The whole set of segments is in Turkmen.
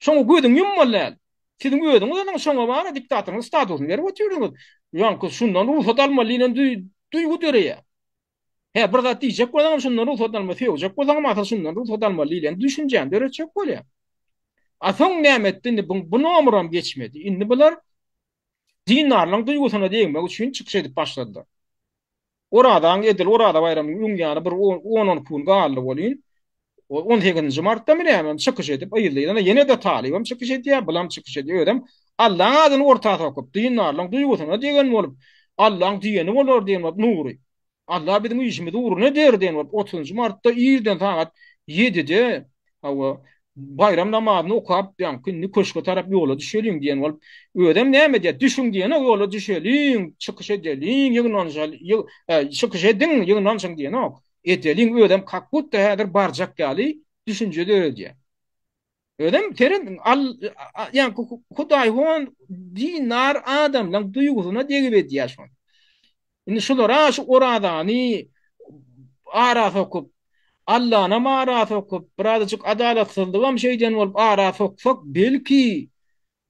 Şoňa gözüňi ýummaly däl. Siziň özüňiz onyň şoňa bana diktatoryň statusyny berip otyrdyňyz. Ýaňky şundan rugsat almaly diýlen duýgy döreýär. Hä bir zat diýjek bolsaňam şundan rugsat almaly, söýjek bolsaňam asyl şundan rugsat almaly diýlen düşünjäni döretjek bolýar. A soň näme etdi indi bu nomuram geçmedi. Indi bular Dindarlaň duýgusyna degmek üçin çykyş edip başladylar. Orazaň edil Oraza baýramynyň öň ýany bir on-on iki gün galdy welin, on sekizinji martdamy nämemi çykyş edip, yzly-yzyna ýene-de Talybam çykyş edýär, bulam çykyş edýär, özem Allaň adyny orta sokup, dindarlaň duýgusyna degen bolup, Allaň diýeni bolar diýen bolup Nury. Alla biziň işimizi ugruna eder diýen bolup, otuzynjy martda irden sagat ýedide, hawa, baýram namazyny okap, ýaňky indi köşge tarap ýola düşeliň diýen bolup, özem näme diýýär, düşüň diýenok, ýola düşeliň, çykyş edeliň, ýygnanyşaly, ýy, e, çykyş ediň, ýygnanyşyň diýenok, edeliň, özem kakbutda häzir barjak ýaly düşünje döredýär. Özem seren al yani Hudaý hon dinar adamlaryň duýgusyna degip edýär şony. Indi şulara şu orazany ara sokup Allana mara sokup, birazajyk adalatsyzlyk hem şeýden bolup ara soksak, belki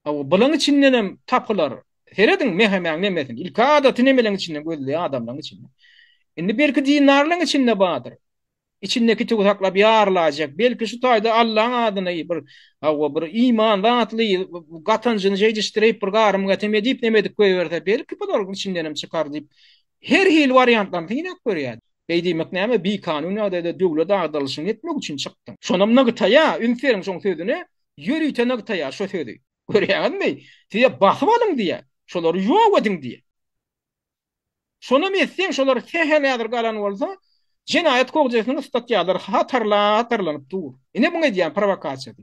o bulan içinden hem tapylar. Serediň mehemäň nemesin. Ilki adaty nemeleň içinden gözleýär adamlaryň içinden. Indi belki dinarlaryň içinde bardyr. Içindäki tüwi saklap ýarylaýjak. Belki şu taýda Allaň adyny bir, hawa, bir iman datly gatanjyny jeýdişdirip, bir garym-gatem edip, neme edip goýberse, belki bular içindenem çykar diýip, her hili wariantlaryny synap görýärdi. Beý diýmek näme, bikanun ýagdaýda döwlet agdarylyşyny etmek üçin çykdyň. Şonam nygtaýa, üns beriň şoň sözüne, ýörite nygtaýa şo sözi. Görýäňizmi? Size basyp alyň diýýä. Şolary ýok ediň diýýä. Şonam etseň şolar sähel häzir galan bolsa jenaýat kogjesiniň statýalary hatarlap hatarlanyp dur. Ine muňa edýän prowokasiýasy.